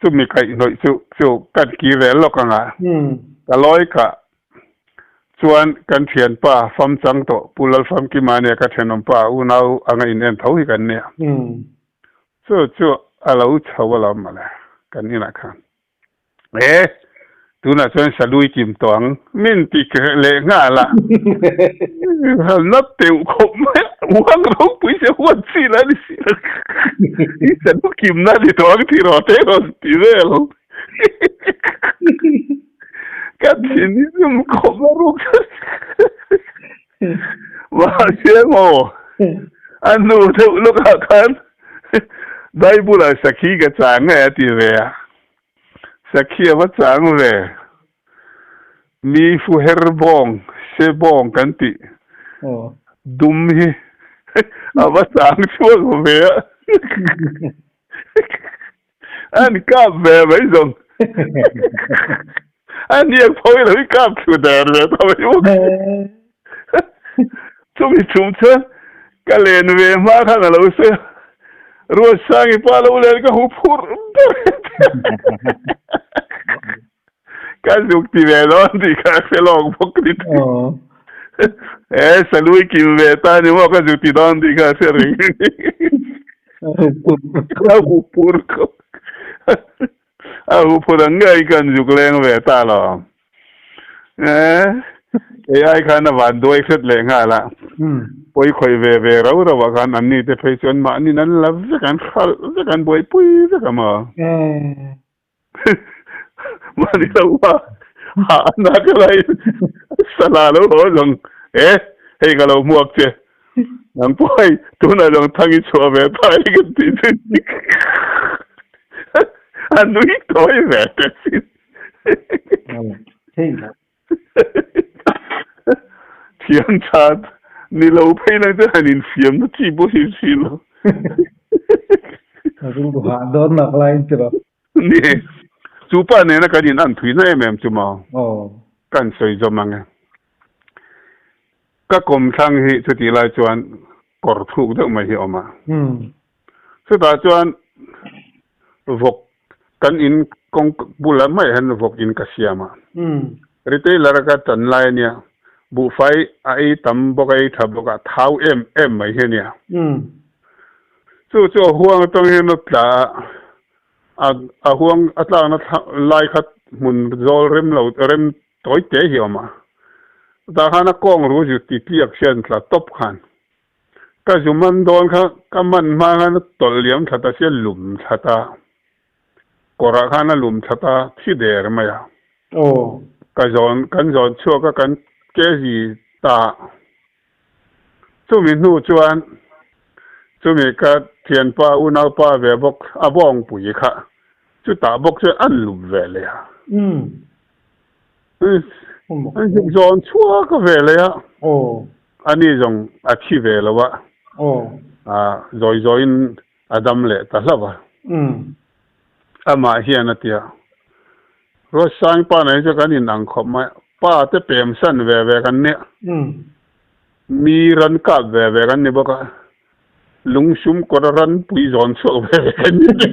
chu mi kaih hnawih chu chu ka ti rel lawk ang a, ka lawi kah chuan kan thianpa famchang tawh Pu Lalfamkima nia ka thenawmpa unau anga inen tho hi kan nia chu chu a lo chho alawm mawle kan inah khan. He, tunah chuan Sanui kim tawh ang mi an ti leh nghal a, hal nat teuh khawp mai a, Uang ropui se huan si la ni si lo, i Sanu kim na ni tawh ang tih rawh te rawh an ti vel, ka thin i zumkhawp la rawh. Mahse emaw, a nu deuh lawkah khan Bible-ah sakhi ka chang nge a ti ve a, sakhi a va chang ve. Mi fuher bawng, hre bawng kan tih dum hi a va chang chhuak ve a. An kap ve mai zawng. A niak pho i lo i kap thlu der ve ta mai bawk. Chumi chhum chuan ka len ve hma khan a lo sawi a, Ruatsangi pa lo len ka hmu phurh ber. Ka zuk ti ve lo an tih kha ka hre lawk bawk ni thei. He Salui kim ve ta ni maw ka zuk ti dawn tih kha ka hre reng reng ni. Ka hu phur kho. A hu phur ang nge in kan zuk leng ve ta lo. He kei ai khan a van duai hret leh nghal a. Pawi khawih ve ve rau rau ah khan an ni te phei chu an mah ni nan la vek an khalh vek an buaipui vek a maw. Mahni lo a, hah a na ka la in sala lo haw zawng e, hei ka lo hmuak che, nang pawh hei tunah zawng thang i chhuah ve ta e kan tih chu dik a nui tawi ve te sin. Thianthat, ni lo phei nang chuan han infiam na chi pawh hrilh hrilh lo. Ka ring duh hah dawn nak lai in ti lo. Ni, chu pa nena kan in an thui na em em chu mau. Ka in sawi zawm ang e. Ka kawm thlang hi chutih lai chuan kawr thluk deuh mai hi awm a. Chutah chuan vawk kan in kawng bulah hmaih hian vawk in ka siam a, retailer-a ka chan lai ania, buhfai a ei tam bawk a, ei tha bawk a, thau em em mai hi ania. Chu chu a huang atang hian a tla a, a a huang a tlakna lai kha hmun zawl rem lo rem tawi teh hi a awm a, chutah khan a kawng ru zut titliak hian tla tawp khan Ka zu man dawn kha ka man hma khan a tawlh liam tlat a sia lum tlat a, kawrah khan a lum tlat a thi der mai a. Aw. Ka zawn kan zawn chhuak a kan kezi ta a. Chumi hnu chuan chumi ka thianpa unaupa ve bawk a bawngpui kha chutah bawk chuan an lum veleh a. Umm. An zuk zawn chhuak a ve leh a, a ni zawng a thi ve lo a, zawi zawiin a dam leh ta hlauh a. Amah hian a ti a, Rosang pa nei chu kan inang khawp mai a, pa te pemsan ve ve kan nih a, mi rankap ve ve kan ni bawk a, Lungsum kawr a ran pui zawn chhuak ve ve kan ni mai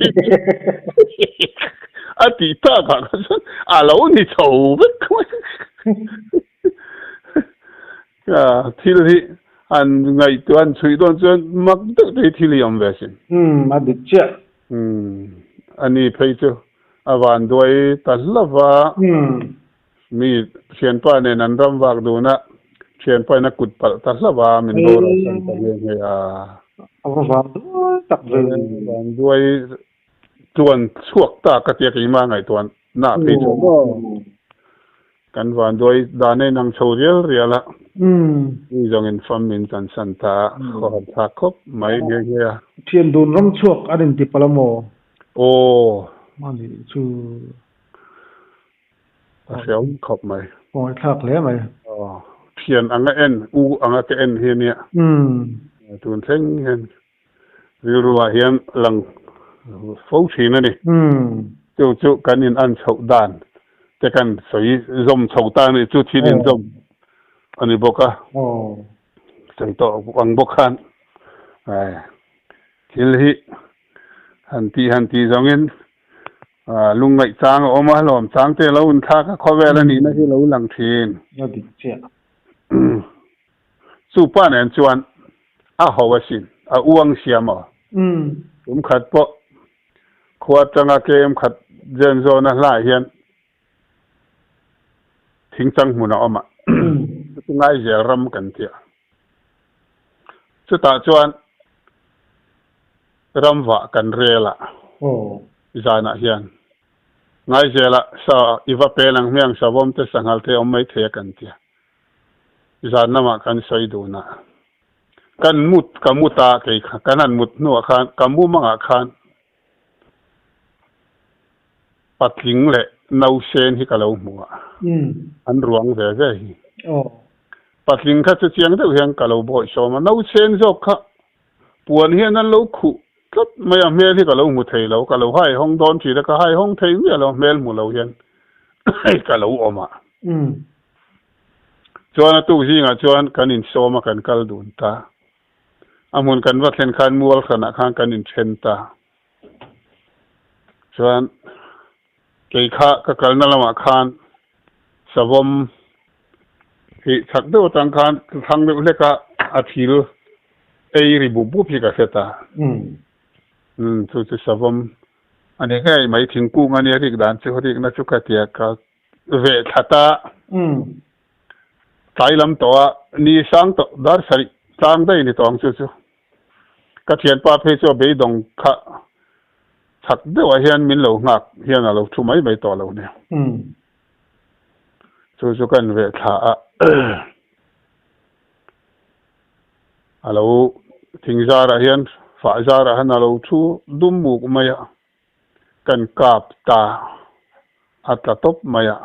a tih tak ah kha chuan a lo ni tho vek mai a, thil hi an ngaihtuah an chhuih dawn chuan mak deuh te hi thil hi awm ve asin. Umm a dik chiah. Umm ani phei chu a vanduai ta hlauh va. Umm. Mi thianpa nen an ram vak dunah thianpa in a kut palh ta hlauh a, min boruak chhan ta nghe nghe a. A va vang duai tak ve ni. A va vang duai tluan chhuak ta ka ti a, keimah ngaihtuah na phei chhuak maw? Kan va duai dan a inang chho rial rial a, mi zawng in fam in kan san ta a, khawhat thlak khawp mai nghe nghe a. Thian dun ram chhuak an inti palh a maw? Aw. Mahni chu. A hreawm khawp mai. Aw i thlak hle mai. Aw thian anga en u anga ka en hi ania. Umm. Tun thleng hian rilruah hian a lang fo thin a ni. Umm. Chu chu kan in an chhoh dan te kan sawi zawm chho ta ni chu thil in zawm a ni bawk a. Aw. Sawi tawh ang bawk khan ai thil hi han tih han tih zawngin Aa, lungngaih chang a awm a, lawm chang te lo hun thlak a, khawvel a nihna hi lo lang thin. La dik chiah. Umm. Chu pa nen chuan a ho a sin, a uang sia maw? Umm. Tum khat pawh khua atanga kem khat zen zawn a hlai hian thing changhmun a awm a, chu chu Ngaizel ram kan ti a. Chutah chuan. ramvah kan rel a, zanah hian ngaizela sa i va pen ang hmiang savawm te sanghalh te awm mai thei a kan tia zan lamah kan sawi dun a kan mut ka mut a kei kha kan han mut hnuah khan ka mum angah khan patling leh nausen hi ka lo hmu a an ruang ve ve hi patling kha chu chiang deuh hian ka lo bawi sawm a nausen zawk kha Puan hian nan lo khuh tlat mai a hmel hi ka lo hmu thei lo, ka lo hai hawng dawn thin a, ka hai hawng thei miah lo hmel hmu lo hian ka lo awm a. Chuan a tuk zingah chuan kan insawm a kan kal dun ta, a hmun kan va thlen khan mualhranah khan kan inthen ta chuan. Kei kha ka kalna lamah khan savawm heh chak deuh atang khan ka thlang deuh hlek a, a thil ei ri bup bup hi ka hre ta. Umm chu chu savawm a ni ngei mai thingkung a nia rik dan chu rikna chu ka tia ka veh thla ta. Tlai lam tawh a ni sang tawh dar sarih tlang daih ni tawh ang chu chu. Ka thianpa phei chu a beidawng kha chhak deuhah hian min lo nghak hian a lo thu mai mai tawh lo nia. Chu chu ka en ve thla a. A lo thing zarah hian fah zarah hian a lo thu dum muk mai a. Ka en kap ta a tla tawp mai a.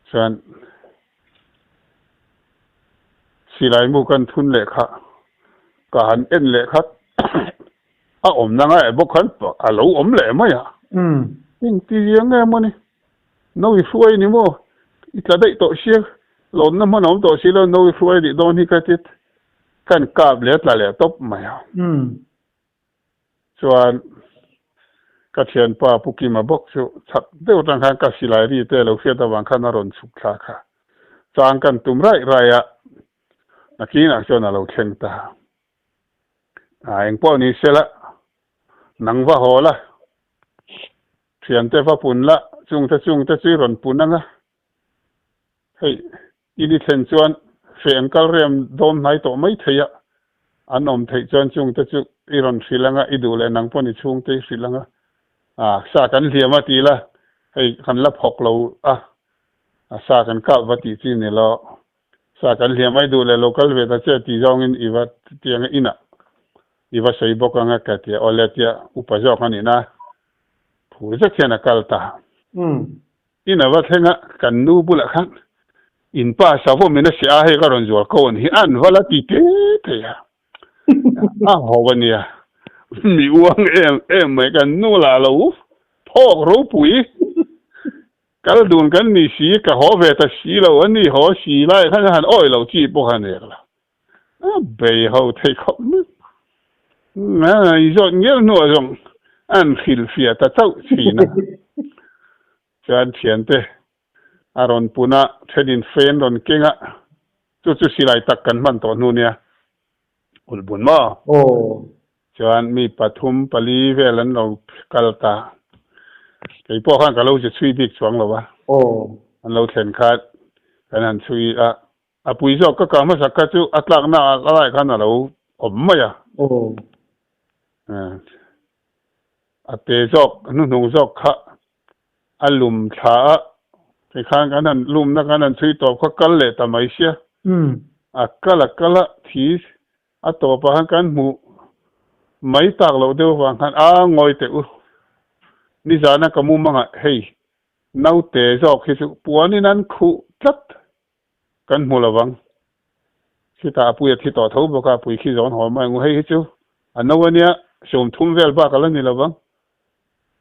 Chuan. Silaimu kan thun leh kha ka han en leh khat a awmna ngaih bawk khan a lo awm leh mai a, heng ti zi ang em ani, no i hruai ni maw i tla daih tawh sia lawnna hman a awm tawh si lo no i hruai nih dawn hi ka ti kan kap leh a tla leh tawp mai a. chuan ka thianpa Pu Kima bawk chu chak deuh tan khan ka silai ri te lo hriat avang khan a rawn chhuk thla kha chang kan tum raih raih a, nakinah chuan a lo thleng ta a, eng pawh ni se la nang va haw la, thiante va pun la, chungte chungte chu i rawn pun ang a, hei I ni thlen chuan hreh an kal rem dawn hnai tawh mai thei a, an awm theih chuan chungte chu i rawn hrilh ang a, i duh leh nang pawh ni chhungte i hrilh ang a, ah sa kan hliam a ti ila hei kan la phawk lo a, sa kan kap va tih chi ni law sa kan hliam a, i duh leh lo kal ve ta che ti zawngin i va ti ang a, inah i va sawi bawk ang a ka ti a, awle tia upa zawk a nih na phur zet hian a kal ta. Umm, In a va thleng a, kan nu bulah khan in pa Savomin a siah a, hei ka rawn zuar ko an hi an val a ti te thei a. A ho a nia, mi uang em em mai kan nu lah lo u, phawk ropui kal dun kan ni si, ka haw ve ta si lo a ni haw, si lai khan han awih lo chi pawh kha a nek lo. A bei ho thei khawp mai. I zawt ngeuh hnuah zawng an hrilhfia ta chauh thin a. Chuan thiante a rawn pun a, thenin fen rawn keng a, chu chu silai tak kan hman tawh hnu nia, ulbun maw? Chuan mi pathum pali vel an lo kal ta. Kei pawh khan ka lo ze chhui bik chuang lo va, an lo thlen khan kan han chhui a, A pui zawk ka kal hmasa kha chu a tlakna a la laih khan a lo awm mai a. Aw. A pe zawk a hnuhnung zawk kha a lum thla a, tikhan kan han lumna kan han chhui tawp kha kal leh ta mai sia. A kal a kal a thi a tawp a khan kan hmuh mai tak loh deuh avang khan a ngawi teh u. Nizana ka mum a ngah hei, naute zawk hi chu puanin an khuh tlat. Kan hmu lo vang. Khitah a puia thi tawh tho bawk a, pui khi zawn haw mai ngu hei hi chu a no a nia, sum thum vel bak a la ni lo vang.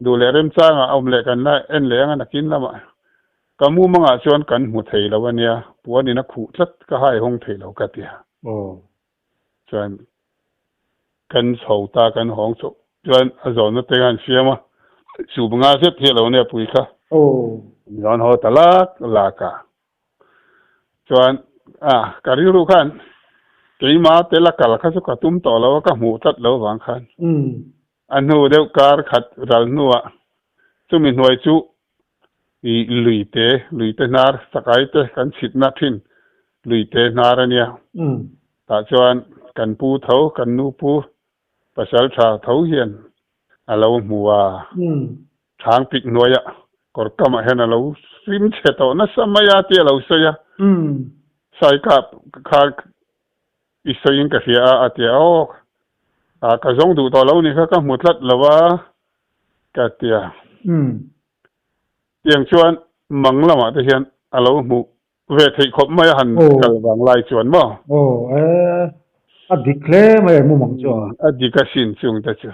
Duh leh remchangah a awm leh kan la en leh ang a nakin lamah ka mumangah chuan kan hmu thei lo a nia, puan in a khuh tlat ka hai hawng thei lo ka ti a. Aw. Chuan kan chho ta kan hawng chauh chuan a zawn na tenga an fiam a, sum nga zet hi a lo nei a pui kha. Aw. Zawn haw ta lak lak a. Chuan, Ah, ka rilru khan keima te la kal kha chu ka tum tawh lo a, ka hmuh tlat lo vang khan a hnu deuh kar khat ral hnuah chumi hnuai chu i lui te, lui te hnar, sakai te kan chhitna thin lui te hnar a nia. Tah chuan kan pu tho, kan nu pu Pasalṭha tho hian a lo hmu a, Thlang pik hnuaia kawr kamah hian a lo hrim chhe tawh nasa mai a tih a lo sawi a. Sai ka kha i sawiin ka hria a a ti a. Aw, a ka zawng duh tawh lo ni kha ka hmu tlat lo va ka ti a. Tiang chuan mang lamah te hian a lo hmuh ve theih khawp mai a han kal vang lai chuan maw? Aw e, a dik hle mai emu mang chu a. A dik a sin chungte chu.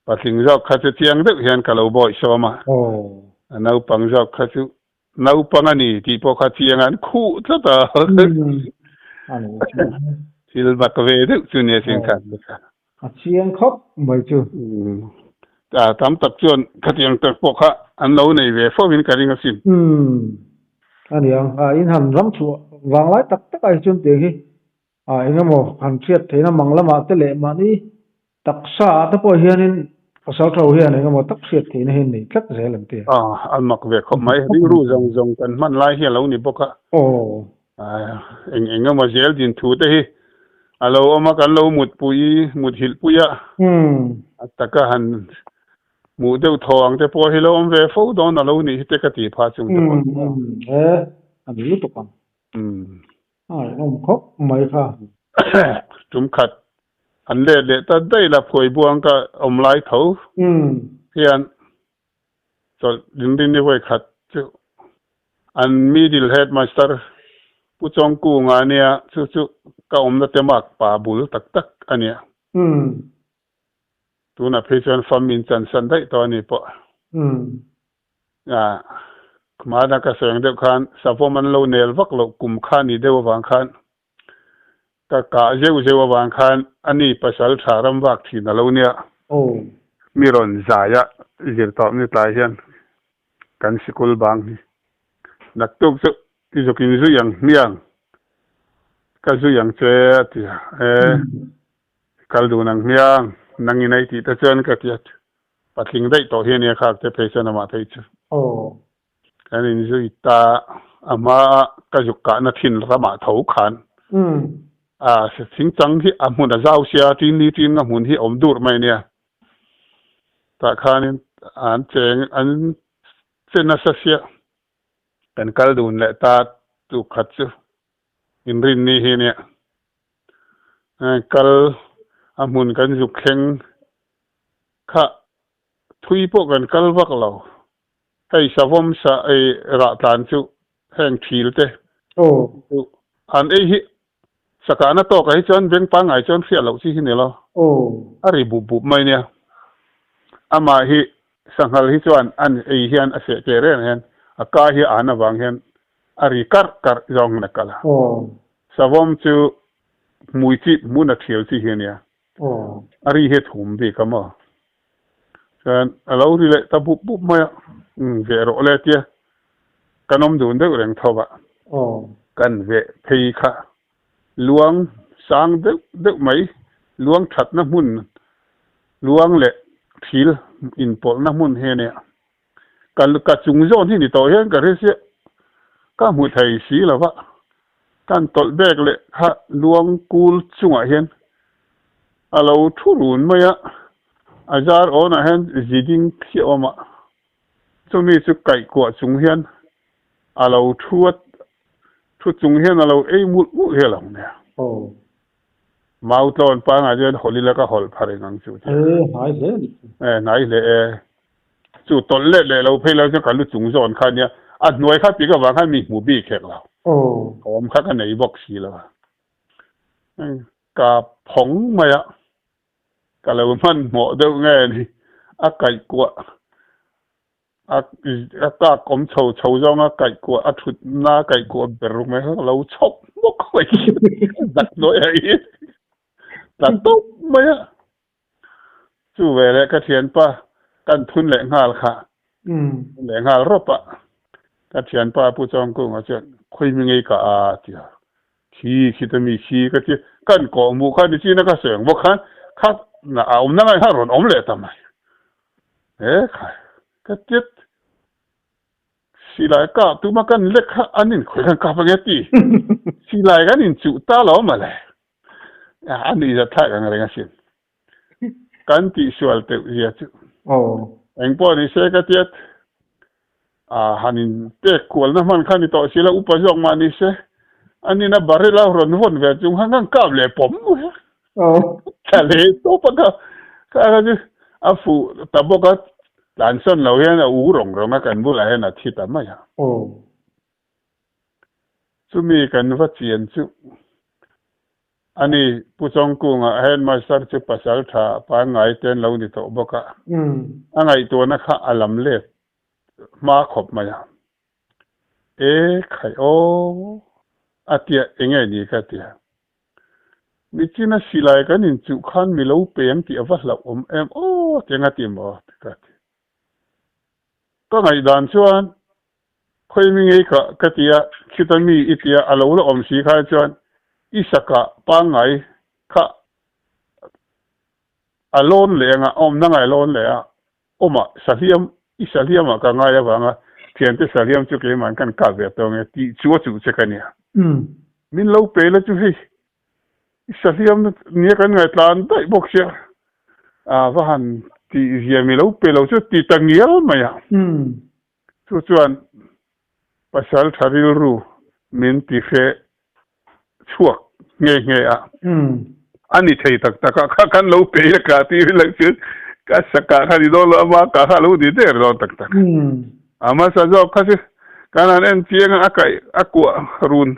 Patling zawk kha chu chiang deuh hian ka lo bawihsawm a, naupang zawk kha chu naupang a ni tih pawh kha chiang an khuh tlat a, thil bak ve deuh chu nia chiang khan te kha. A chiang khawp mai chu. A tam tak chuan khatiang tak pawh kha an lo nei ve fo in ka ring a sin. Ania, a inhan ram chhuah vang lai tak tak a hi chuan tiang hi a engemaw han hriat theihna mang lamah te leh mahni taksa ah te pawh hian in pasal tho hian engemaw tak hriat theihna hi an nei tlat zel an ti a. A, a mak ve khawp mai, ringru zawng zawng kan hman lai hi a lo ni bawk a. Aw. A, eng eng emaw zel din thu te hi a lo awm a, kan lo mutpui muthilh pui a. Umm. A taka han hmuh deuh thaw ang te pawh hi lo awm ve fo dawn a lo nih hi te ka ti pha chung te pawh. Umm, umm, e, a ni lutuk ang. Umm. A rinawm khawp mai kha. Tum khat an let leh ta daih la phuai buang ka awm lai tho hian Chawlh Rinrin ni hawi khat chu an middle headmaster Pu Chawngku Ngania chu chu ka awmna te mak pa bul tak tak a nia. Tunah phei chuan family in chansan daih tawh a ni pawh. Mahna ka seng deuh khan savawm an lo nel vak loh kum kha ni deuh avang khan ka kah zeuh zeuh avang khan ani pasal tha ram vak thin a lo nia. Mi rawn zai a zirtawp ni tlai hian kan sikul bang hi naktuk chu zukin zuih ang hmiang ka zuih ang che a ti a, e kal dun ang hmiang nang inei tih te chuan ka ti a Patling daih tawh hi a nia khak te phei chuan amah phei chu. Aww. Kan in zui ta a hmaa ka zuk kahna thin ramah tho khan a thing chang hi a hmun a zau sia tin ni tin nga hmun hi awm dur mai nia tah khanin an cheng an che nasa sia kan kal dun leh ta tukhat chu. Inrinni hi nia kal a hmun kan zuk thleng kha thui pawh kan kal vak lo. Hei savawm sa ei rah tlan chu heng thil te chu an ei hi sakana tawk a hi chuan beng pangngai chuan hriat loh chi hi ni lo. A ri bup bup mai nia. Amah hi sanghal hi chuan an ei hian a seh ke reng hian a ka hi a han avang hian a ri karh karh zawng in a kal a. Savawm chu hmui chip hmun a thial chi hi a nia, a ri hi thum bik a maw. Chuan a lo ri leh ta bup bup mai a, umm ve rawh le tia kan awm dun deuh reng tho vah. Kan ve phei kha luang sang deuh deuh mai, luang thatna hmun, luang leh thil inpawlhna hmun hi a nia. Ka ka chung zawk ni ni tawh hian ka hre chiah. Ka hmu thei si lo va, kan tawlh bek leh kha luang kul chungah hian a lo thu run mai a, a zar awnah hian zi ding si awm a, chumi chu kaihkuah chung hian a lo thu a, thu chung hian a lo ei mulh mulh hi a lang nia. Aw, Mau tlawn pangngai chuan Holi la ka hawlh phar reng ang chu tia. He hnai hle a nih chu. He hnai hle e. Chu tawlh let leh lo phei lo chuan ka lu chung zawn kha nia. A hnuai kha pik avang khan mi hmu bik hek lo. Aw. Awm kha ka nei bawk si lo. Ka phawng mai a. Ka lo hmanhmawh deuh nge ni. A kaihkuah A kak awm chho chho zawng a kaihkuah a thutna kaihkuah ber mai hi ka lo chhawp hmawk mai a Zakhnawiha hi tla tawp mai a, chu ve leh ka thianpa kan thun leh nghal kha thun leh nghal rawp a, ka thianpa Pu Chawngkunga chuan khawimingeika a tia. Thi khita mi khi ka ti, kan kawh mu kha ni chin a ka seng bawk khan kha na a awmna ngai kha rawn awm leh ta mai e khai ka tiat silai kap tuma kan lek kha an in khawih khan kap ange ti silai kan in chuh ta lo male a nih zat thlak ang reng asin. kan tih sual teuh zia chu eng pawh ni se ka tiat a han in pek kual na hman kha ni tawh sila upa zawk mah ni se a ni na barrel a rawn vawn ve chung kha ngang kap leh pawm mai a tha hle tawp a ka ka kha chu a fuh ta bawk a tlan sawn lo hian a û rawng rawng a kan bulah hian a thi ta mai a chumi kan va chian chu A ni, Pu Chawngkungah Headmaster chu pasal tha pan ngai te an lo ni tawh bawk a, a ngaihtuahna kha a lam let hma khawp mai a. E khai aw a tia enge ni ka tia. Nichina silai kan inchuh khan mi lo peng tih a va hlauh awm em aw teng a ti maw? ka ti. Ka ngaihdan chuan Khawi mi ngei ka ka ti a, Chuta mi i ti a, a lo la awm si khai chuan i saka pangngai kha a lawn leh ang a, a awmna ngai lawn leh a, awm a, sahliam i sahliam ah ka ngai avang a, thiante sahliam chu keimah an kan kah ve tawng e tih chu a chuh che ka nia. Min lo pe la chu hei i sahliam nia kan ngaitlan daih bawk sia a va han tih zia mi lo pe lo chu a ti ta ngial mai a. Chu chuan pasal tha rilru min ti hre chhuak nghe nghe a, a ni thei tak tak a, kha kan lo peih a ka ti rilek chu ka sakah kha ni dawn lo, ama kah kha a lo ni der dawn tak tak. A hmasa zawk kha chu kan han en chiang a, a kaih a kuah run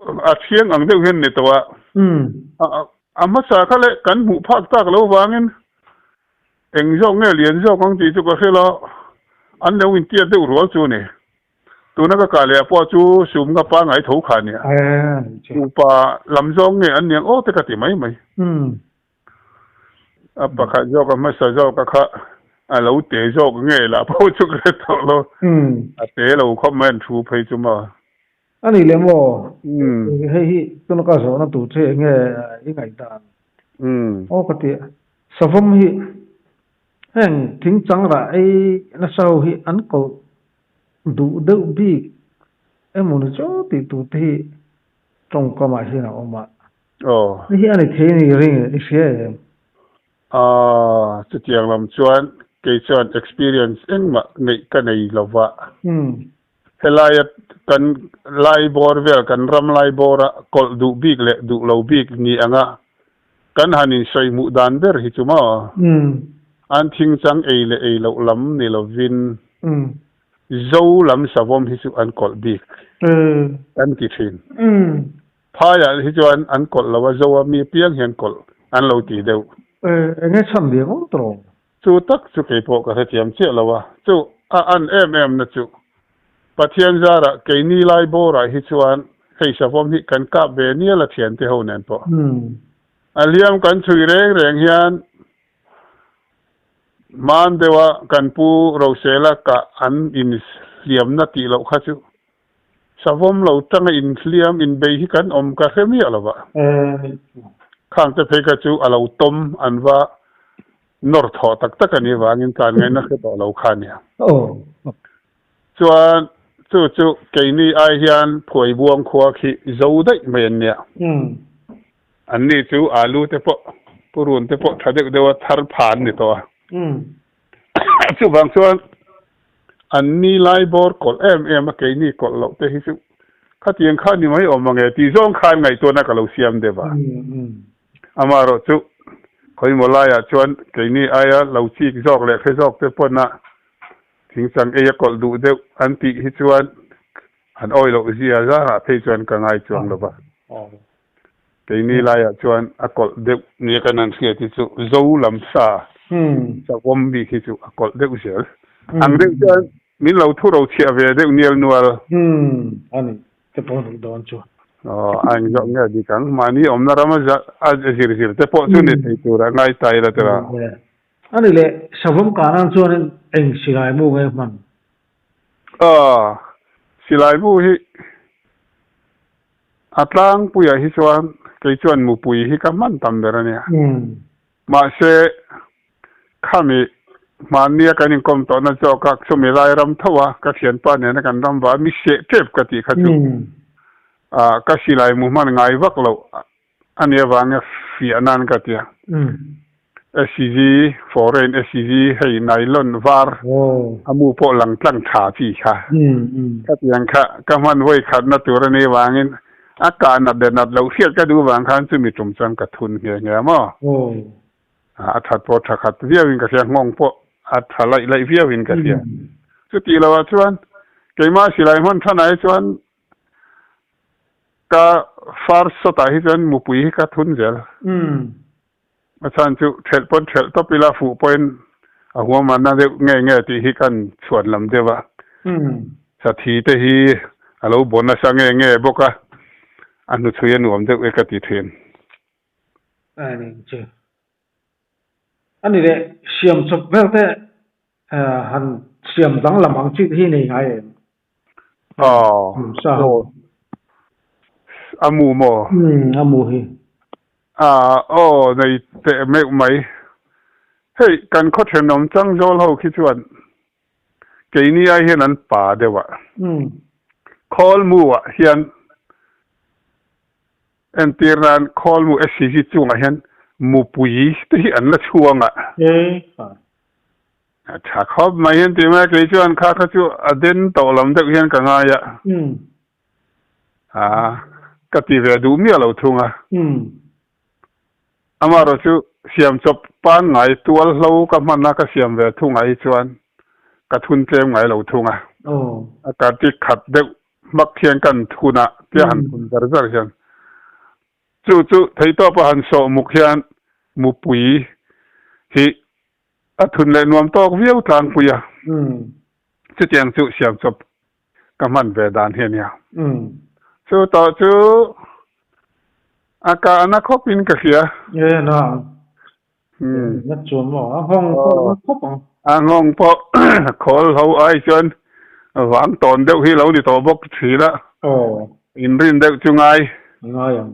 A thiang ang deuh hian ni tawh a. A hmasa kha leh kan hmuh phak tak lo vangin eng zawk nge lian zawk ang tih chu ka hre lo. An lo intiat deuh rual chu ni. Tuna ka kah leh a pawh chu Sumnga pa ngai tho kha nia. Upa lam zawng nge an niang aw te ka ti mai mai. A pakhat zawk a hmasa zawka kha a lo te zawk nge lah pawh chu ka hre tawh lo. A te lo khawp mai an thu phei chu maw. A nih lem aw, hei hi tuna ka zawhna tur che eng nge i ngaihdan? Aw ka ti a, Savam hi heng thing changrah ei nasa ho hi an kawlh duh deuh bik emaw ni chu tih tur te hi tawngkamah hian a awm a, ni hi a ni thei ni ring e, i hria em? A, chutiang lam chuan kei chuan experience engmah ngeih ka nei lo va, Helaia kan laibawr vel, kan ram laibawra kawlh duh bik leh duh lo bik ni anga kan han insawi hmuh dan ber hi chu maw? An thing chang ei leh ei loh lam ni lovin Zo lam savawm hi chu an kawlh bik kan ti thin. Phaiah hi chuan an kawlh lo a, Zoa mi apiang hian kawlh an lo ti deuh. Enge chhan lian awm ta lo. Chu tak chu kei pawh ka hrethiam chiah lo a, chu a an em em na chu. Pathian zara kei ni lai bawrah hi chuan hei savawm hi kan kap ve nial a thiante ho nen pawh. A hliam kan chhui reng reng hian man deuha kan pu Rosela kah an in hliamna tih loh kha chu Savawm lo tanga inhliam inbei hi kan awm ka hre miah lova. Khangte phei kha chu a lo tawm an va nawr thawh tak tak a nih avangin tlan ngaina hre tawh lo kha a nia. Chuan chu chu keini ai hian Phuaibuang khua khi zo daih mai an nia. Anni chu Alu te pawh, Purun te pawh tha deuh deuha thar pha an ni tawh a. Chuvang chuan an ni lai bawr kawlh em em a, keini kawlh loh te hi chu khatiang kha ni mai awm ange tih zawng khan ngaihtuahna ka lo siam deuh a. Ama erawh chu khawimawh laiah chuan keini aia lo chik zawk leh hre zawk te pawna thing chang eia kawlh duh deuh an tih hi chuan an awilo ziah zangah phei chuan ka ngai chuang lo va. Keini laiah chuan a kawlh deuh nia kan han hriat hi chu zo lam sa chauhawm bik hi chu a kawlh deuh zel. Ang deuh chuan min lo thu ro chhiah ve deuh nial nual. A ni, te pawh a nih dawn chu. Aw, a eng zawk nge a dik ang? Mahni awmna ram a zir zir te pawh chu ni thei tur a ngai tai la tira. A ni le, chauhawm kahnaah chuan eng silai mu nge hman? Aw, Silaibu hi a tlangpuiah hi chuan kei chuan mupui hi ka hman tam ber a nia. Mahse, khami hmannia kan inkawm tawhna zawkah chumi lai ram thoa ka thianpa nena kan ram va mi seh tep ka tih kha chu ka silaimu hman ngai vak loh. a ni avanga fiah nan ka ti a, SCG, foreign SCG, hei nylon var amu pawh lang tlang tha chi kha ka ti ang kha ka hman vawikhatna tur a ni avangin a kah nat leh nat loh hriat ka duh vang khan chumi tum chuan ka thun nghe nghe a maw a that pawh tha khat viau in ka hria nghawng pawh a tha laih laih viau in ka hria chutih lo ah chuan keimah silai hman than ah hi chuan Ka far sawtah hi chuan mupui hi ka thun zel. A chhan chu ṭhelh pawn ṭhelh tawp ila fuh pawhin a huamahna deuh ngei nge tih hi ka han chhuan lam deuh a. Sathi te hi a lo bawn nasa nge nge bawk a, a hnuchhui a nuam deuh e ka ti thin. Ka han en che. A ni leh, siam chawp ber te han siam danglam ang chi te hi nei ngai em? Aw, sa ho. Amu maw? Umm, amu hi. Aah, aw, nei teh meuh mai. Hei, kan khaw thenawm chang zawl ho khi chuan keini ai hian an pa deuha Khawlmuah hian entir nan Khawlmu SCG chungah hian Mupui te hi an la chhuang a. He, fai. A tha khawp mai hian ti mai a, kei chuan kha kha chu a den tawh lam deuh hian ka ngai a, ah ka ti ve duh miah lo thung a, amaherawh chu siam chawp panngai tual hlo ka hman a ka siam ve thungah hi chuan ka thun tlem ngai lo thung a, a ka ti khat deuh hmak hian ka an thun a tia han thun zar zar hian chu chu theitawpa han sawh muk hian mupui hi A thun leh nuam tawk viau tlangpui a, chutiang chu siamchawp ka hman ve dan hi a nia. Chu tawh chu a kah na khawp in ka hria. Ee a na ang, na chuan maw? A nghawng pawh na khawp ang. A nghawng pawh khawl ho ai chuan vang tawn deuh hi lo ni tawh bawk ka chhil a, inrin deuh chu ngai. Ngai ang.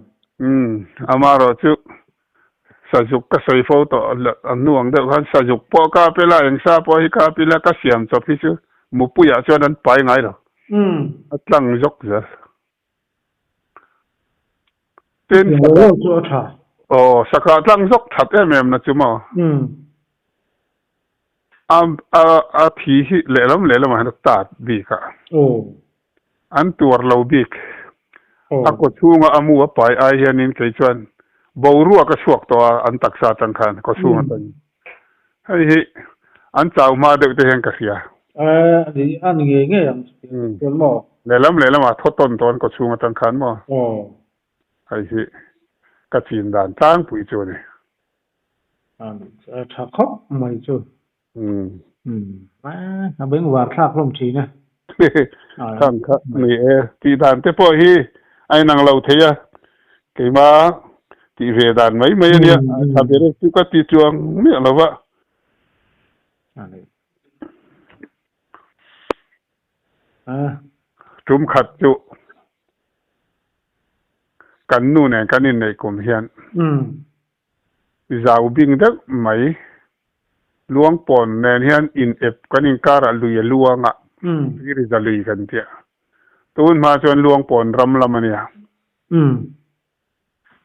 Amarawh chu Sazuk ka sawi fo tawh a nuang deuh khan Sazuk pawh ka pe la engsa pawh hi ka ap ila ka siam chawp hi chu Mupuia chuan an pai ngai lo a tlang zawk zel tin Saka chu a tha aw Saka tlang zawk that em em na chu maw a thi hi lehlam lehlam ah hian a tat bik a. An tuar lo bik. A kaw chhunga a mu a pai ai hianin kei chuan boruak a chhuak tawh a, an taksa atang khan kaw chhung atang. Hei hi an chau hma deuh te hian ka hria. A ni a ni ngei ngei ang chu tih ka hriat maw? Lehlam lehlamah thaw tawn tawh an kaw chhung atang khan maw? Hei hi ka chin dan tlangpui chu a ni. A ni tha khawp mai chu. A beng var thlak hlawm thin a. Kham kha ni e, tih dan te pawh hi a inang lo thei a, keima tih ve dan mai mai a nia, tha berak chu ka ti chuang miah lo va. Tum khat chu kan nu nen kan inneih kum hian Zau bing deuh mai. Luangpawn nen hian in ep kan inkar a lui a luang a, Phiriza lui kan tia. Tun hma chuan Luangpawn ram lam a nia.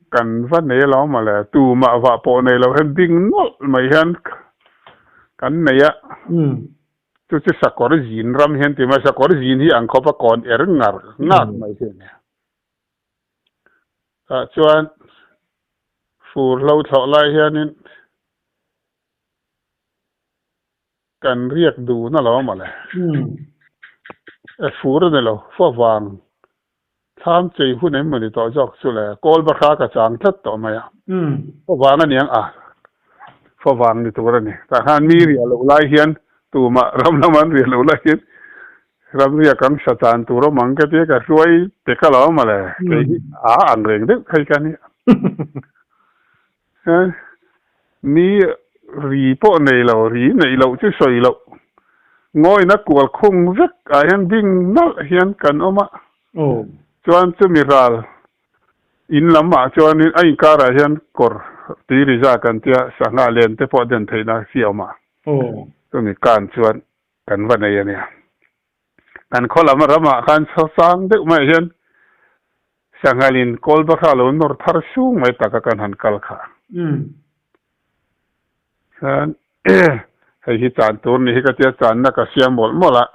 Kan va nei lo mawle. Tumah vah pawh nei lo hian bing nawlh mai hian kan nei a. Chu chu Sakawr zin ram hian ti mai. Sakawr zin hi Angkhopa kawn er ngar ngak mai hi a nia. tah chuan fur hlo thlawh lai hianin kan riak dun a lo mawle. E fur a ni lo, fua vang thlam chei hun em a ni tawh zawk chu le, kawlba hra ka chang tlat tawh mai a, fua vang a niang a, fua vang ni tur a ni. Tah khan mi riah loh lai hian tumah ram lama an riah loh lai hian Ram riak kan hre tan tur awm ang ka ti a, ka hluai pe ka lo mawle, kei hi a ang reng deuh phei ka nia. He ni ri pawh nei lo, ri neih loh chu sawi loh, ngawina kual khung vek ah hian ding nalh hian kan awm a, chuan chumi ral in lam ah chuanin a inkar ah hian kawr tui ri za kan tia, sangha len te pawh den theih na si a awm a, chumi kan chuan Kan va nei a nia. Kan khaw lam ramah khan chawchang deuh maiah hian Sanghalin Kawlbakha lo nawr thar sung mai taka kan han kal kha. Chuan hei hi chan tur ni hi ka tia channa ka hria mawlh mawlh a,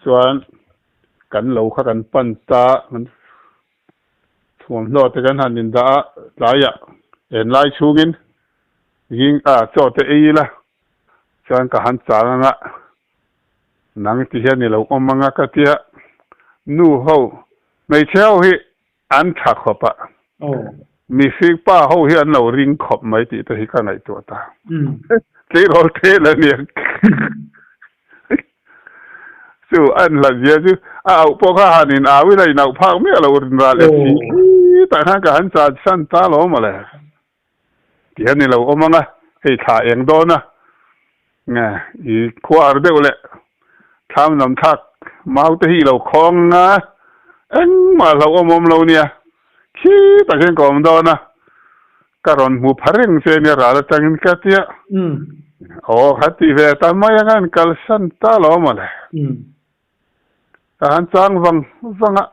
chuan kan lo kha kan pan ta, Thuam hlawh te kan han indah a, tlaiah en lai chhungin ging a chaw teh ei ila, chuan ka han chang anga nang ti hian i lo awm anga ka ti a, nu ho, hmeichhe ho hi an tha khawp a, mihring pa ho hi an lo ring khawp mai tih te hi ka ngaihtuah ta, tleirawl te la nia. Chu a en hlat zia chu a auh pawh kha han in au ila in auh phak miah lo rinral e si i tah khan ka han chan chi san ta lo mawle tih a ni lo awm ang a hei thla eng dawn a nge i khuar deuh leh thlamdam thlak mau te hi i lo khawng ang a engmah hlauh awm awm lo nia khi takin ka awm dawn a. Ka rawn hmu pha reng che ania ral atangin ka ti a. Aw kha ti ve atan mai anga an kalsan ta lo mah le. Ka han chang vang vang a,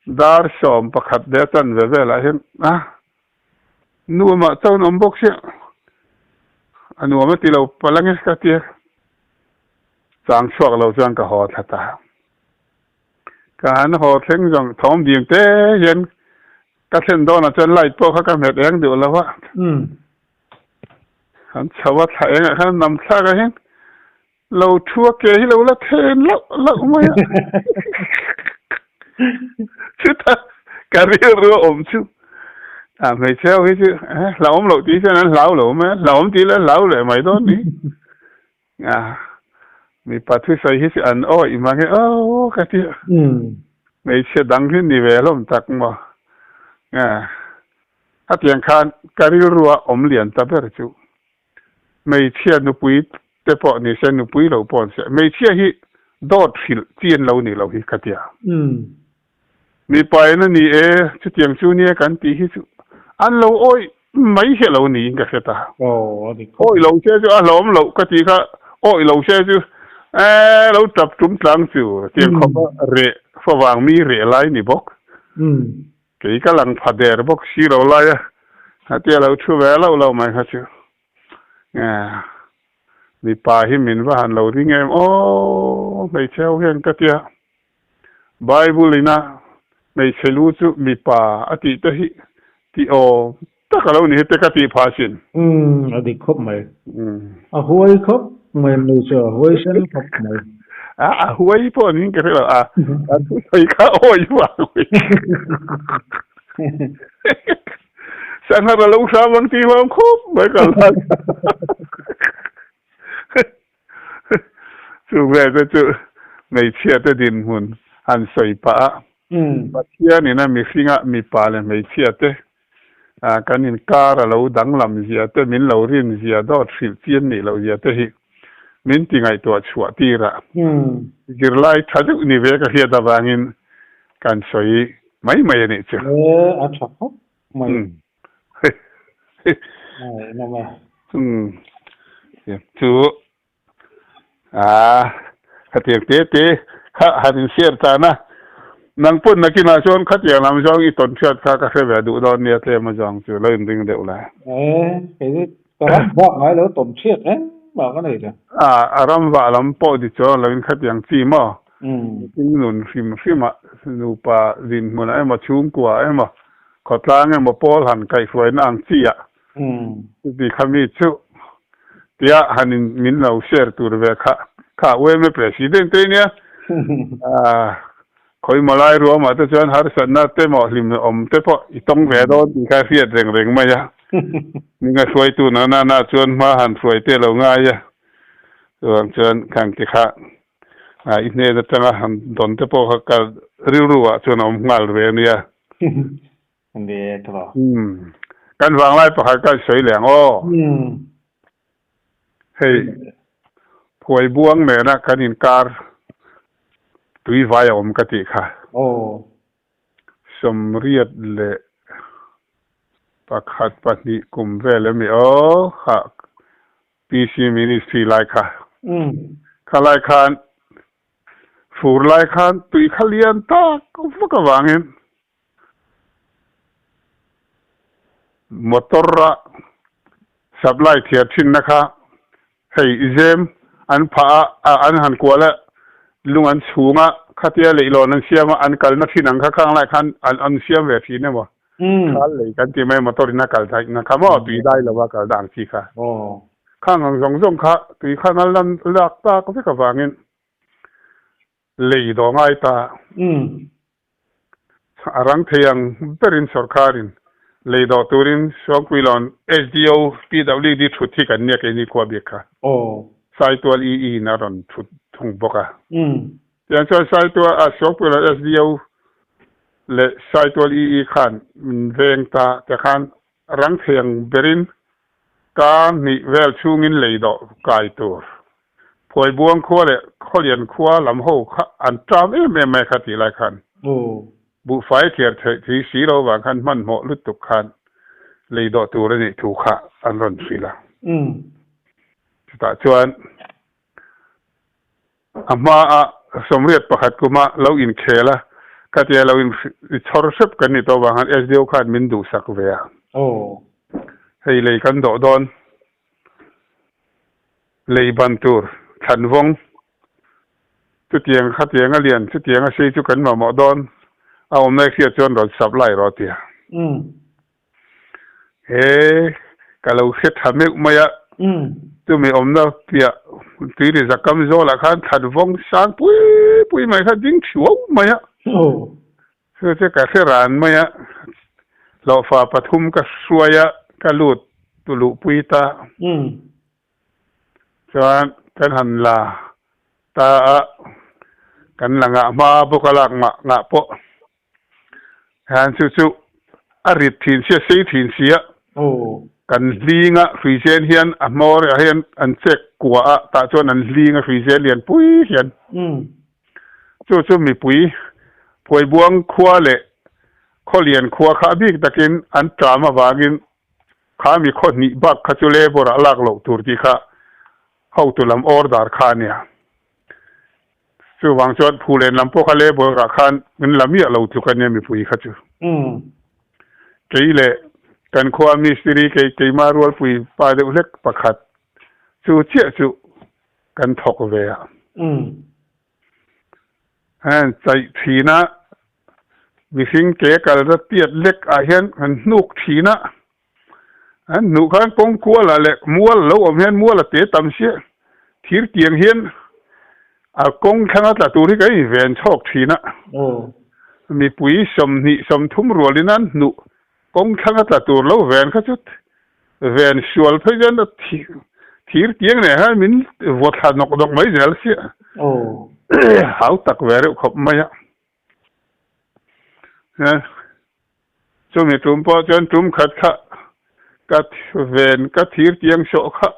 dar sawm pakhat leh a chan ve velah hian a nu amah chuan awm bawk sia, a nuam a ti lo palang e ka ti a. Chang chhuak lo chuan ka haw thla ta. Ka han haw thleng zawng thawm ding te hian Ka thlen dawn ah chuan light pawh kha ka hmet eng duh lo a. An chho a thlah eng ah khan a nam thlak a heng. Lo thu a ke hi lo la then loh loh mai a. Chuta ka rilru a awm chu a hmeichhe ho hi chu, Hla awm loh tih hian an hlau lo mai a, hla awm tih leh hlau leh mai dawn ni. Nga, mipa thusawi hi si an awi i mang e aw ka ti a, hmeichhia dang hi ni ve hlawm tak maw nga, hetiang khan ka rilru a awm lian ta ber chu hmeichhia nupui te pawh ni se nupui lo pawh an si a, hmeichhia hi dawt hrilh chin lo ni lo hi ka ti a. Ni pain a ni e, chutiang chu nia kan tih hi chu an lo awih mai heh lo niin ka hriat a. Awih lo se chu a hlawm loh ka tih kha awih lo se chu eeh lo tap tum tlang chu tiang khawpa reh fa vang mi reh lai ni bawk. Kei ka lang pha der bawk si lo lai a, heti a lo thu ve loh loh mai kha chu eeh mipa hi min va han lo ding em aw hmeichhe ho hian ka tia. Bible in a Hmeichhe lu chu mipa a tih te hi ti awm tak a lo ni hete ka tih pha chin. Umm a dik khawp mai. A huai khawp mai an ni chu a huai hrem khawp mai. A a huai pawh an hing ka hrelo a a thusawi kha a hawi vang mai sangha ka lo hram ang tih hi a awm khawp mai ka la. Chu vel te chu hmeichhia te dinhmun han sawi pah a, Pathian in a mihring a mipa leh hmeichhia te kan in kar a lo danglam zia te min lo rin zia dawt hrilh chian nih loh zia te hi min ti ngaihtuah chhuah tir a, zirlai tha deuh ni ve ka hriat avangin kan sawi mai mai a nih chu. A tha khawp chu aa khatiang te te kha han in share tan a, nang pawn nakin ah chuan khatiang lam zawng i tawnhriat kha ka hre ve duh dawn nia tlem azawng chu lo in ring deuh la. Ka ram vah ngai lo tawm ṭhiat engmah ka nei teh. A ram vah lam pawh ti chu a lo in khat yang chi maw? Mipui nun hrim hrimah nupa dinhmunah emaw, chhungkuaah emaw, khawtlang emaw pawl han kaihhruaina ang chia chutih kha mi chu tia han in min lo share tur ve kha. Kha UMA President-te nia. Khawi Malai ruahmah te chuan harsatna te maw hlim awm te pawh i tawng ve a dawn tih kha a hriat reng reng mai a. Ning a hruaitu na nana chuan hma han hruai te lo ngai a, chuvang chuan khang te kha i hnen atanga han dawn te pawh kha ka rilru ah chuan a awm nghal ve a nia. Umm. Kan vanglai pakhat kan sawi leng aw. Hei phuai buang nena kan inkar tui vai a awm ka tih kha. Sawmriat leh pakhat pahnih kum vel emaw aw kha PC ministry lai kha. Kha lai khan fur lai khan tui kha lian tak vak avangin Motor a supply thliar thinna kha hei i zem an phah a, a an han kual a, lung an chhung a, khatia leihlawn an siam a, an kalna thin ang kha khang lai khan an an siam ve thin emaw? Khal lei kan ti mai motor ina kal daih na kha maw tui dai lova kal dan chi kha. Khang ang zawng zawng kha tui kha ngal dan lak tak vek avangin Lei daw ngai ta a rang thei ang berin sorkarin lei daw turin Sawngpuilawn SDO, PWD thut hi kan nia keini khua bik kha Saitual ii in a rawn thut thung bawk a. Tiang chuan Saitual ah Sawngpuilawn SDO leh Saitual ii khan min veng ta te khan Rang thiang berin ka hnih vel chhungin lei dawh kai tur Phuaibuang khua leh Khawlian khua lam ho kha an ṭam em em mai kha tih lai khan buhfai tliar theih thei si lo vang khan hmanhmawh lutuk khan lei dawh tur a nih thu kha an rawn hrilh a. Chutah chuan. A hmaah sawmriat pakhat kuma lo inkhel a, ka ti a, lo in chhawr hrep kan ni tawh vangah SDO khan min duhsak ve a. Aw. Hei lei kan dawh dawn. Lei ban tur, thlan vawng. Chutiang kha tianga lian, chutianga sei chu kan mamawh dawn. A awmna exia chuan rawn sap lai rawh a ti a. Umm. He ka lo hre tha meuh mai a, chumi awmna piah tuiri zakam zawlah khan that vawng sang pui pui mai kha ding thiuo mai a, chu che ka hre ran mai a, hlawhfa pathum ka hruai a ka lut tu luh pui ta chuan kan han la ta a, kan la ngah hma bawk a lak ngah ngah pawh Hlan chu chu a rit thin si a sei thin si a, kan hling a hrui zel hian a hma erawh hian an chek kuah a tah chuan an hling a hrui zel lian pui hian chu chu mipui Phuaibuang khua leh Khawlian khua kha a bik takin an ṭam avangin kha mi khawhnih bak kha chu labour-ah a lak loh tur tih kha hotu lam order kha a nia. Chuvang chuan Phulen lam pawh kha le boruak khan min la miah lo tluk ania mipui kha chu. Kei leh kan khua mistiri kei keima rualpui pa deuh hlek pakhat chu chiah chu kan thawk ve a. Heng chaih thin a mihring ke kal rat piat lek ah hian kan hnuk thin a. An hnuh khan kawng kuala leh mual a lo awm hian mual a te tam chiah. Thir tiang hian a kawng thlanga tla tur hi kan inven chhawk thin a. Mipui sawmhnih sawmthum rualin an hnuh kawng thlanga tla tur lo ven kha chu ven sual phei chuan a thir tiang neh hian min vawt thla nawk nawk mai zel chiah. Hau tak ve reuh khawp mai a. Chumi tum pawh chuan tum khat kha ka ven ka thir tiang sawh kha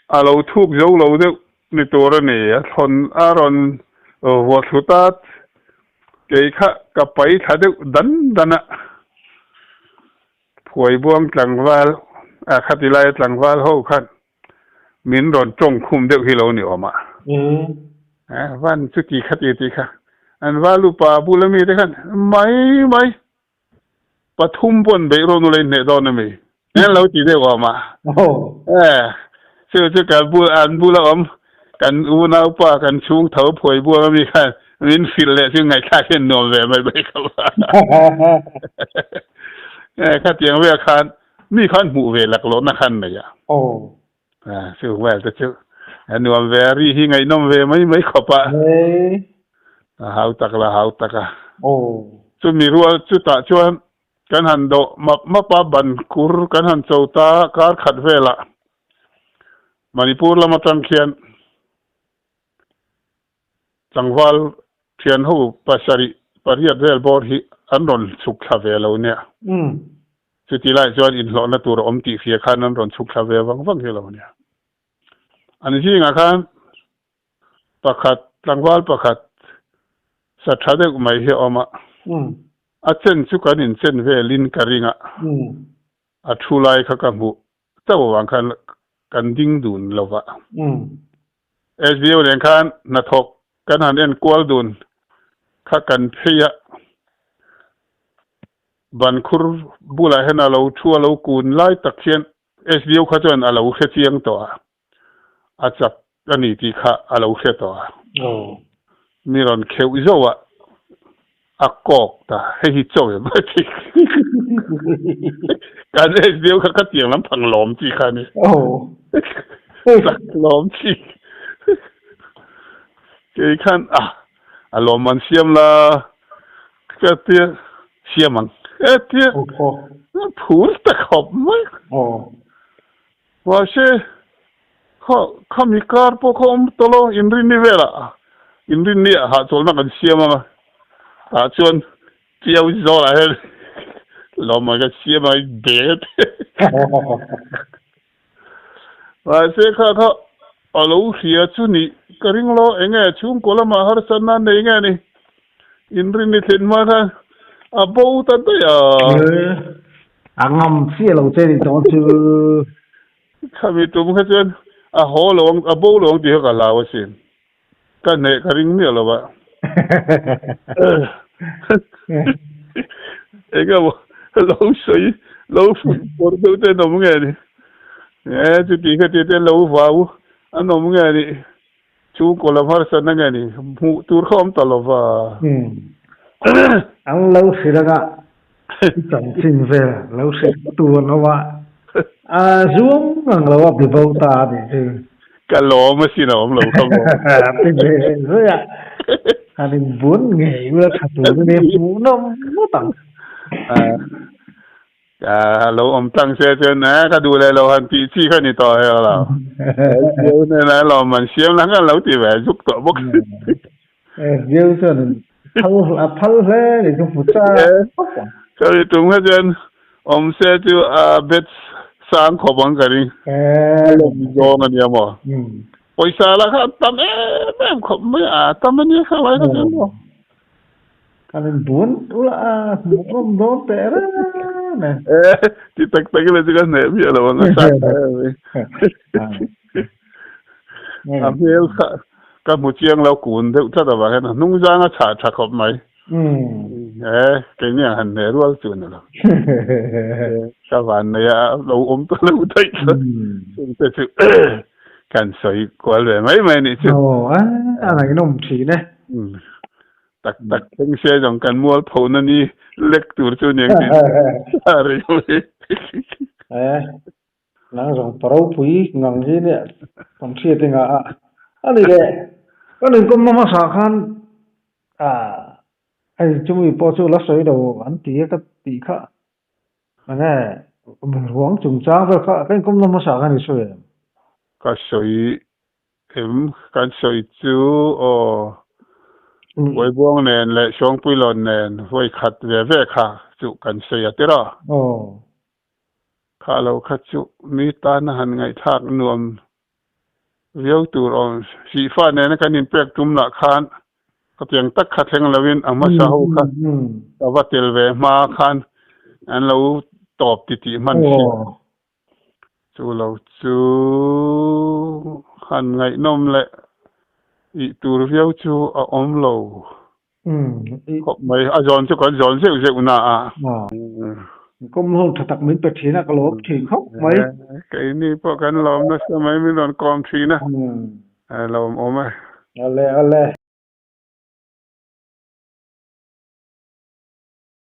a lo thuk zo lo deuh ni tur a ni. A thlawn a rawn vuathlut a, kei kha ka pai thla deuh dan dan a. Phuaibuang tlangval, a kha ti laia tlangval ho khan Min rawn tawng khum deuh hi lo ni awm a. Eeh, van chu ti kha ti ti kha. An valupa a bula mite khan mai mai pathum paw'n beih rawn ulei hneh dawn a mi. An lo ti deuh awm a. Eeh, chu chu kan bul, an bula awm kan unaupa, kan chhungtho phawi bual ami khan min hrilh leh chu ngaihthlak hian nuam ve mai bai kha. Eeh, khatiang vek khan Mi khan hmuh ve lak lawhna khan nei a. Aw. Chu Hmual te chu a nuam ve a, ri hi ngaihnawm ve mai mai khawp a. Hei. A hau tak la hau tak a. Aw. Chu mi rual chutah chuan kan han dawh map map a, ban kur kan han cho ta kar khat velah Manipur lam atang khian. Tlangval thianho pasarih pariat vel bawr hi an rawn chhuk thla ve lo nia. Chutilai chuan inhlawhna tur a awm tihfia khan an rawn chhuk thla ve vang vang hi lo nia. An zingah khan pakhat, tlangval pakhat sa tha deuh mai hi a awm a, a chen chu kan inchen velin ka ring a, a thu lai kha ka hmuh. Chauh avang khan kan ding dun lo va. Sbo nen khan hnathawk kan han en kual dun kha kan phei a, ban khur bulah hian a lo thu a lo kun lai tak hian sbo kha chuan a lo hre chiang tawh a. a chak a ni tih kha a lo hre tawh a, mi rawn kheuh zauha a kawk ta hei hi chaw em a ti kan age deuh kha khatiang lam phang lawm tih kha a ni chak lawm tih kei khan a a lawm an siam la ka tia siam ang ka tia phul tak hawp mai. Mahse, kha kha mi kar pawh kha awm tawh lo, inrinni velah inrinni ah hahchawlhna kan siam ang a, tah chuan Chiau Zawlah hian lawmman kan siam ang a, in bel e tih mahse kha kha a lo hria chu nih ka ring lo, eng nge chhungkaw lamah harsa nan nei nge ni? Inrinni thlen hma khan a bo ta daih a. A ngam chiah lo che nih tawng a thil. Khami tum kha chuan a haw lo ang a bo lo ang tih kha ka hlau a si. Ka hneh ka ring miah lo va. Enge maw lo sawi lo fuih pawrh deuh te an awm nge ni? He chutih kha tiah te lo vau an awm nge ni? Chhung kaw lam harsa na nge ni? Hmuh tur kha awm ta lo va. Umm. An lo hrilh ang a, i chanchin vel lo hrilh tur an awm a. A zuam ang lo a, bibo ta a nih chu. Ka lawm a sin a awm lo kha maw? Ti ve zui a, han in bun ngei ula tha tur hi hmuh nawm nawt ang. Aa, lo awm tlang se chuan, Aa, ka duh leh lo han tih chi kha ni tawh hek lo. Jesu nen ah lawm han siam la ngal lo tih ve a zuk tawh bawk. Jesu chuan phal a phal hle ni chu hmu cha bawk ang. Sorry, tum kha chuan awm se chu a bet sang khawp ang ka ring. Ka lawm ni zawng a nia maw? Pawisa lah kha a tam em em khawp mai a, a tam a nia kha vai ka tum maw? Kan in bun ula a hmuh ngawm dawn teh reng reng e. Eh, ti tak tak ila chu ka hneh miah lo ang a sa ta em e. A hmel kha ka hmu chiang lo kun deuh tlat avang hian a hnung zang a chhah tha khawp mai. Eh, keini ang han hneh rual chu ni lo. Ka vanneih a lo awm ta lo daih chuan chungte chu. kan sawi kual ve mai mai nih chu. Aw a a rainawm thin e. Tak tak thleng sia zawng kan mual pho na ni lek tur chu aniang tih a rei ho hi. E nang zawng pa ropui ngang hi nia kan hriat e nga a. Ani le kan inkawm na hmasa khan a hei chumi pawh chu la sawi lo an ti a ka tih kha Ane, ruang chungchang vel kha kan kum nawm hmasa kan ri sawi em? Ka sawi em? Kan sawi chu aw. Buaibuang nen leh Sawngpuilawn nen vawikhat ve ve kha chu kan sawi a tir a. Aw. Kha lo kha chu mi tana han ngaihthlak nuam Riau tur awm si fah nena kan inpek tum lah khan ka piang tak kha thleng lo in a hmasa ho kha ka va tel ve hma khan an lo tawp ti tih hman si a. Chu lo chu han ngaihnawm leh ih tur viau chu a awm lo Khawp mai, a zawn chu kan zawn zeuh zeuh na a. Min kawm ho tha tak min pe thin a, ka lawm thin khawp mai. Keini pawh kan lawm nasa mai, min rawn kawm thin a, a lawm awm e. Awle awle.